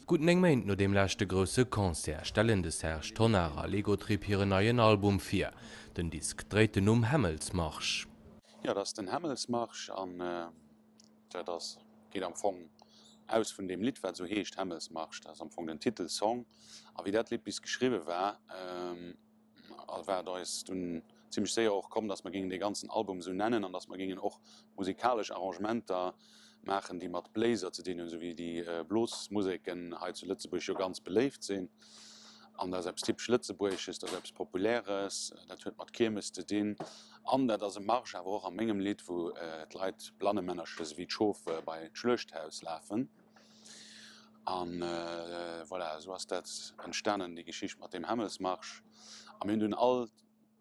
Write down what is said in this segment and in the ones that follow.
Gutt 9 Méint no deem leschte grousse Concert stellen de Serge Tonnar a Lego Trip hiren neien Album vir. Den Disk dréit den Numm Hämmelsmarsch. Jo, dat ass den Hämmelsmarsch an dat ass, geet am Fong aus vun deem Lidd, wat esou heescht, Hämmelsmarsch. Dat ass am Fong den Titelsong. A wéi dat Lidd bis geschriwwe war, a wat eis dunn zimlech séier och komm, dass mer géingen dee ganzen Album esou nennen an dass mer géingen och musikalesch Arrangementer maachen, déi mat Bléiser ze dinn hunn, esou wéi déi Blosmuseken hei zu Lëtzebuerg jo ganz beléift sinn. An dat ass eppes typesch Lëtzebuergesches, dat ass eppes Populäres, dat huet mat Kiermes ze dinn an dat ass e Marsch awer och a mengem Lidd, wou d'Leit, Blannemännercher, esou wéi d'Schof bei d'Schluechthaus lafen. A voilà, esou ass dat entstanen, déi Geschicht mat deem Hämmelsmarsch. A mir hunn dunn all,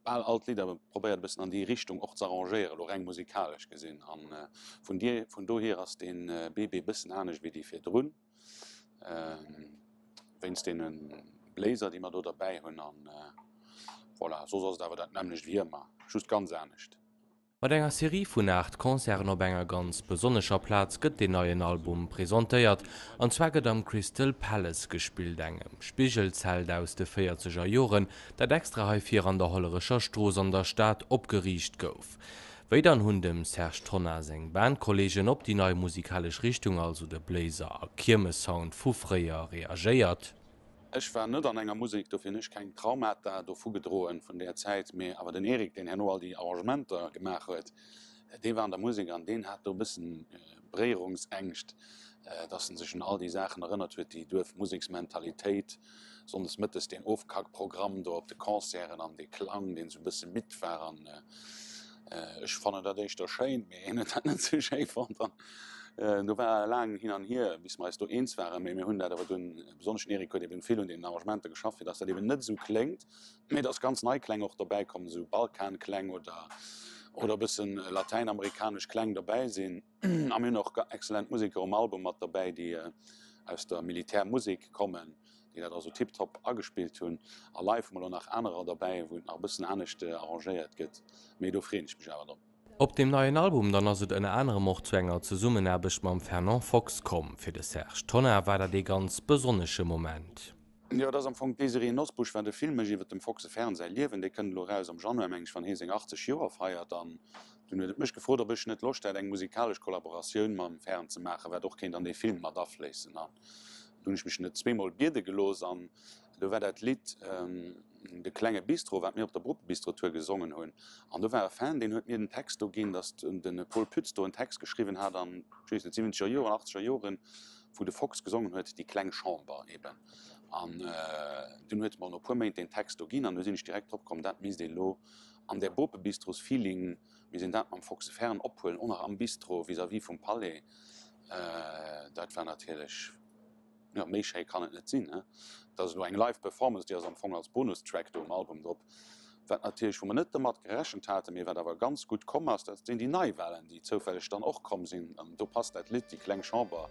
bal all d'Lidder probéiert e bëssen an déi Richtung och z'arrangéieren, elo reng musikalesch gesinn. A vun dir, vun dohier ass dee BB e bëssen anescht wéi déi virdrun, wéinst deene Bléiser, déi mer do derbäi hunn. A voilà, soss ass et awer dat nämmlecht wéi ëmmer, just ganz anescht. Mat enger Serie vun 8 Concerten op enger ganz besonnescher Plaz gëtt deen neien Album presentéiert, an zwar gëtt am Crystal Palace gespillt, engem Spigelzelt aus de véierzeger Joren, dat extra heifir an der Hollerecher Strooss an der Stad opgeriicht gouf. Wéi dann hunn dem Serge Tonnar seng Bandkolleegen op déi nei musikalesch Richtung, also de Bléiser a Kiermes-Sound vu fréier, reagéiert? Ech war net an enger Musek, dofir hunn ech keng Traumata dovu gedroen, vun där Zäit. Mee awer den Eric, deen herno all déi Arrangementer gemaach huet, dee war an der Musek an deen hat do e bëssen Bréierungsängscht, dass en sech un all déi Saachen erënnert huet, déi Duerfmuseksmentalitéit, sonndes mëttes deen Ofkackprogramm do op de Concerten an dee Klang, deen esou e bësse midd war an. Ech fannen dat éischter schéin, mee hien huet dat net sou schéi fonnt an do war e laangen Hin an Hier, bis mer eis do eens waren. Mee mir hunn dat awer dunn, besonnesch den Eric huet eben vill un deenen Arrangementer geschafft, fir dass dat eben net esou kléngt, mee dass ganz nei Kläng och dobäikommen, esou Balkan-Kläng oder e bëssen latäinamerikanesch Kläng dobäi sinn. A mir hunn och excellent Museker um Album mat dobäi, déi aus der Militärmusek kommen, déi dat also tiptop agespillt hunn. A live hu mer elo nach anerer dobäi, wou et nach e bëssen anescht arrangéiert gëtt, mee do freeën ech mech awer drop. Op deem neien Album dann ass et ënner anerem och zu enger Zesummenaarbecht mam Fernand Fox komm. Fir de Serge Tonnar war dat ee ganz besonnesche Moment. Jo, et ass am Fong d'Désirée Nosbusch, war de Filmech iwwer dem Fox e Fern säi Liewen. Dee kënnt elo eraus am Januar, meng ech, wann hie seng 80 Joer feiert. An Dunn huet et mech gefrot, ob ech net Loscht hätt, eng musikalesch Kollaboratioun mam Fern ze maachen, wat och kéint an dee Film mat afléissen. An do hunn ech mech net zweemol biede gelooss an do war dat Lidd De klenge Bistro, wat mir op der Bruckbistro-Tour gesongen hunn. An do war e Fan, deen huet mir den Text do ginn, datt de Pol Pütz do en Text geschriwwen hat an den siwwenzeger Joren an achtzeger Joren, wou de Fox gesongen huet, Die kleng Chamber eben. An dunn huet e mer no e puer Méint deen Text do ginn an du sinn ech direkt drop komm, dat misst een elo An der Bope Bistros Feeling, mir sinn dat mam Fox de Ferren ophuelen, och nach am Bistro vis-à-vis vum Palais, dat war natierlech, jo, méi schéi kann et net sinn, ne? Dat ass elo eng live Performance, déi ass am Fong als Bonustrack do um Album drop, wat natierlech, wou mer net domat gerechent haten, mee wat awer ganz gutt komm ass, dat sinn déi Neiwalen, déi zoufälleg dann och komm sinn, an do passt dat Lidd, déi kleng Chamber,